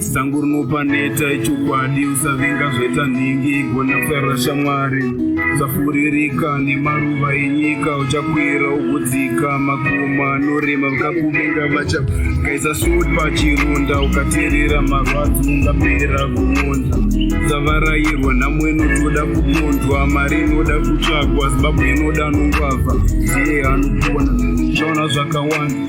sango rinopa neta ichokwadi usavinga zvaita nhingi igona kufarira shamwari usafuririka nemaruva enyika uchakwira ugodzika makoma anorema vakakuvinga vacha kaisa sut pachironda ukaterera marwadzi ungapera kuonza usavarairwa nhamo inotoda kuponzwa mari inoda kutsvagwa zimbabwe inoda anongwavha ndiye anopona chaona zvakawanda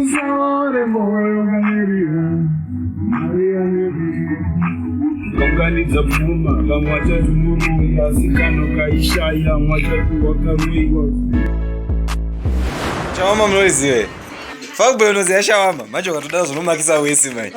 Usaore moyo ukamirira mari yaneviri unganidza pfuma vamwe vachati murume asi kano kaishaya vamwe vachati wakaroiwa Shawama munoiziva here? Fuckboy unoziva shawama? Manje ukatoda zvinomakisa wese manje.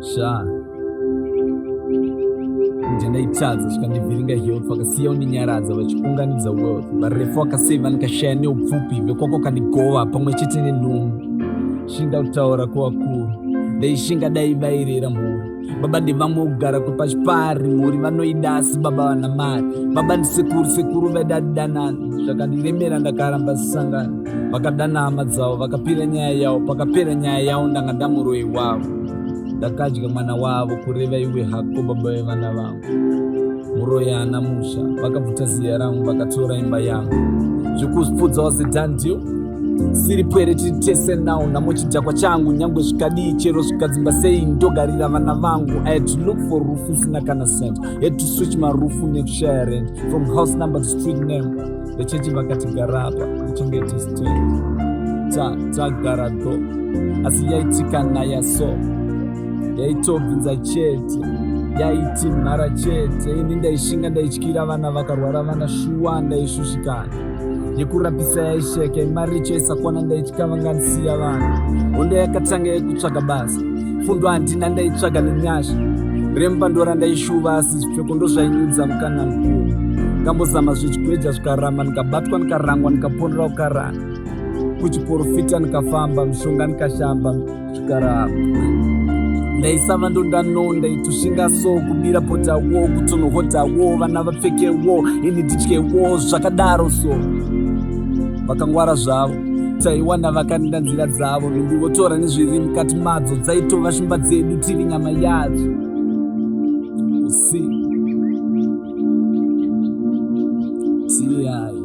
sha kunja ndaitadza zvikandivhiringa health vakasiya undinyaradza vachiunganidza wealth varefu vakaseva ndikashaya neupfupi vekwako kandigova pamwe chete nenhumbu shinga kutaura kwevakuru ndaishinga dai vairera mhuri baba ndevamwe kugara kwepachipari mhuri vanoida asi baba vana mari baba ndisekuru sekuru vaida danana zvakandiremera ndakaramba zisangana vakadana hama dzavo vakapira nyaya yavo pakapera nyaya yavo ndanga ndamuroyi wavo ndakadya mwana wavo kureva iwe hako baba vevana vavo muroyi haana musha vakabvuta ziya rangu vakatora imba yangu zvekuzpudza was a done deal siri pwere tiri tese now namo chidhakwa changu nyangwe zvikadii chero zvikadzimba sei ndogarira vana vangu i had to look for rufu isina kana cent had to switch marufu nekushaya rent from house number to street name vechechi vakati garapa uchengete stand tagara do asi yaitika naya so yaitobvinza chete yaiti mhara chete ini ndaishinga ndaityira vana vakarwara vana shuwa ndaishushikana yekurapisa yaisheka imaricho isakwana ndaitya vanganisiya vanhu hondo yakatanga yekutsvaga basa fundo handina ndaitsvaga nenyasha remba ndora ndaishuva asi zvipfeko ndozvainyudza mukana mukuru ngambozama zvichikweja zvikaramba ndikabatwa ndikarangwa ndikaponera kukarana kuchiporofita ndikafamba mishonga ndikashamba Chikara ndaisava ndondano ndaitushinga so kubira potawo kutonohotawo vana vapfekewo ini ndityewo zvakadaro so vakangwara zvavo taiwana vakanida nzira dzavo ndundi votora nezviri mukati madzo dzaitova shumba dzedu tiri nyama yadzo usi tiyai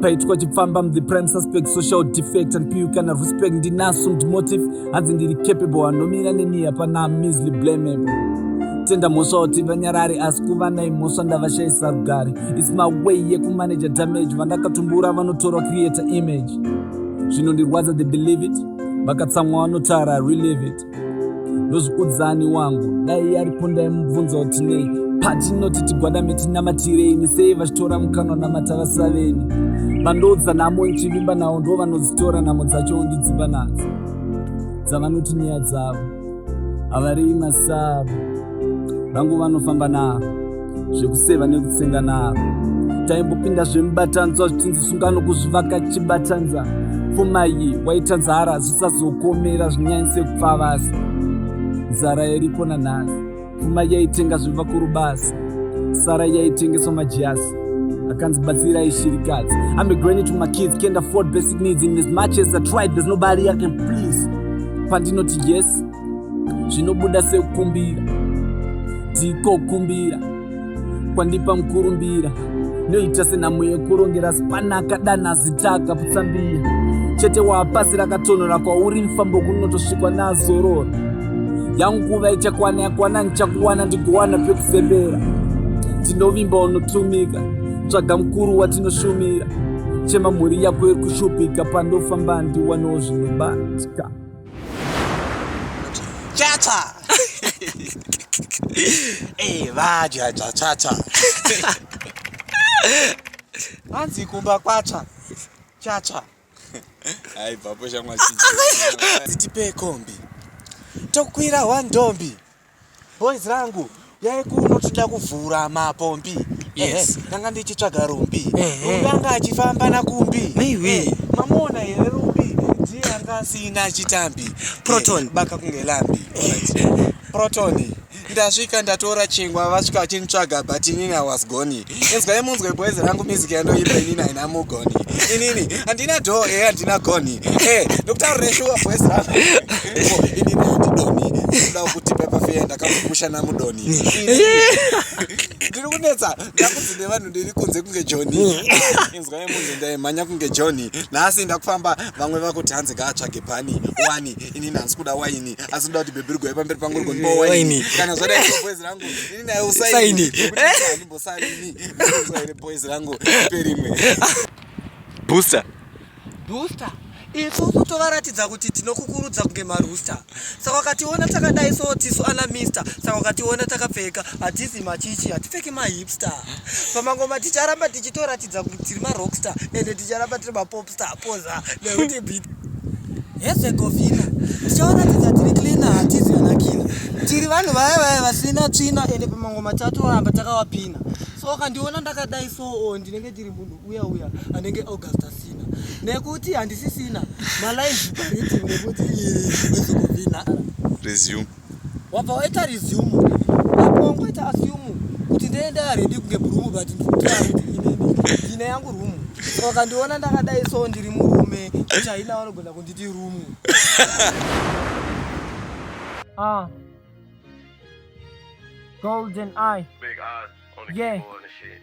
paitwa chipfamba mthe prime suspect social defect and piu kana respect ndinaso mtmotive hanzi ndiri capable anomira neni hapana misly blamable tenda mhosva kuti vanyarari asi kuva nai mhosva ndavashayisa rugare its my way yekumaneja damage vandakatumbura vanotorwa creator image zvinondirwadza the believe it vakatsamwa vanotaura relieve it ndozvikudzani wangu dai yaripo ndaimubvunza kuti nei patinoti tigwadame tinamatireini sei vachitora mukanwa namata vasaveni vandoudza nhamo ndichivimba nawo ndo vanodzitora nhamo dzacho ndidzimba nadzo dzavanoti nyaya dzavo havarei masavo vangu vanofamba navo zvekuseva nekutsenga naro taimbopinda zvemubatanzwa zvichinzi sungano kuzvivaka chibatanza pfumayi waita nzara zvisazokomera zvinyanyise kupfavasi nzara yaripo nanhasi pfuma yaitenga zvevakuru basi sara yaitengeswa majasi akanzi batsira ishirikadzi ame granit my kids can't afford basic needs in as much as i tried there's nobody i can please pandinoti yes zvinobuda sekukumbira ndiko kumbira kwandipa mukurumbira noita senhamo yekurongera zipanaka dana zitaka putsambira chete waapasi rakatonhora kwauri mfambo kunotosvikwa nazorora yangu nguva ichakwana yakwana ndichakuwana ndigowana pekufembera tinovimba unotumika tsvaga mukuru watinoshumira chema mhuri yako iri kushupika pandofamba ndiwanewo zvinobatika Chacha. Eh, vaja chacha. Hanzi kumba kwacha. Chacha. Hai papo shamwa chiji. Tipe kombi. Tokwira wandombi. Boys rangu yai kuno tida kuvhura mapombi. Yes. Eh, ndanga ndichitsvaga rumbi. Eh, rumbi eh. anga achifamba nakumbi. Maiwe. Eh, mamona here rumbi ndiye anga asina chitambi. Proton. Eh, baka kunge lambi. Eh. Proton. Ndasvika ndatora chingwa vasvika vachinitsvaga but inini I was gone. inzwai munzwe boys rangu music yandoimba inini haina mugoni inini handina do e eh, handina goni e eh, ndokutaurira shuwa boys rangu inini handidoni ndoda kuti pepafeya ndakakumusha namudoni ndiri kunetsa ndakunzi nevanhu ndiri kunze kunge joni inzwai munzwe ndaimhanya kunge joni nhasi ndakufamba vamwe vakuti hanzi ngaatsvage pani wani inini handisi kuda waini asi ndoda kuti bhebhirigwai pamberi pangu rigonipa waini kana zvadai boys rangu booster booster isu kutovaratidza kuti tinokukurudza kunge marusta saka wakationa takadai so tisu ana mister saka wakationa takapfeka hatizi machichi hatipfeki mahipster pamangoma ticharamba tichitoratidza kuratidza kuti tiri marockstar ende ticharamba tiri mapopstar poza nekuti bit hezve govina tichawaratidza tiri cleana hatizi kana kina tiri vanhu vaya vaya vasina tsvina ende pamango matatu ramba takawapina so ukandiona ndakadai so oh, ndinenge ndiri munhu uya uya anenge augusta sina nekuti handisisina malive nekuti resume wabva waita resume apo wangoita assume kuti ndoenda ready kunge brumu but ndine yangu rumu so wakandiona ndakadai so ndiri murume chaina vanogona kunditi rumu ah. golden eye Big eyes on the yeah. keyboard and shit.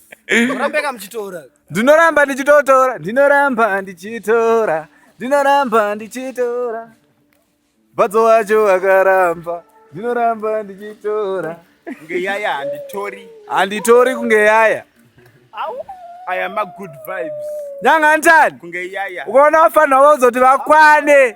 ndinoramba ndichitotora ndinoramba ndichitora ndinoramba ndichitora badzo wacho akaramba ndinoramba ndichitora kunge yaya handitori handitori kunge yaya aya magood vibes nyanga ntani kunge yaya ukaona vafanira vozoti vakwane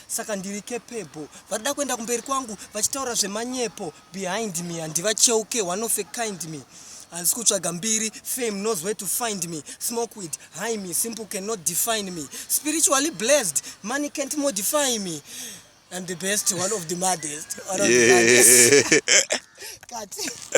saka ndiri capable varida kuenda kumberi kwangu vachitaura zvemanyepo behind me handivacheuke one of a kind me handisi kutsvaga mbiri fame knows where to find me smoke with high me simple cannot define me spiritually blessed money can't modify me I'm the best one of the maddest, one of yeah. the maddest.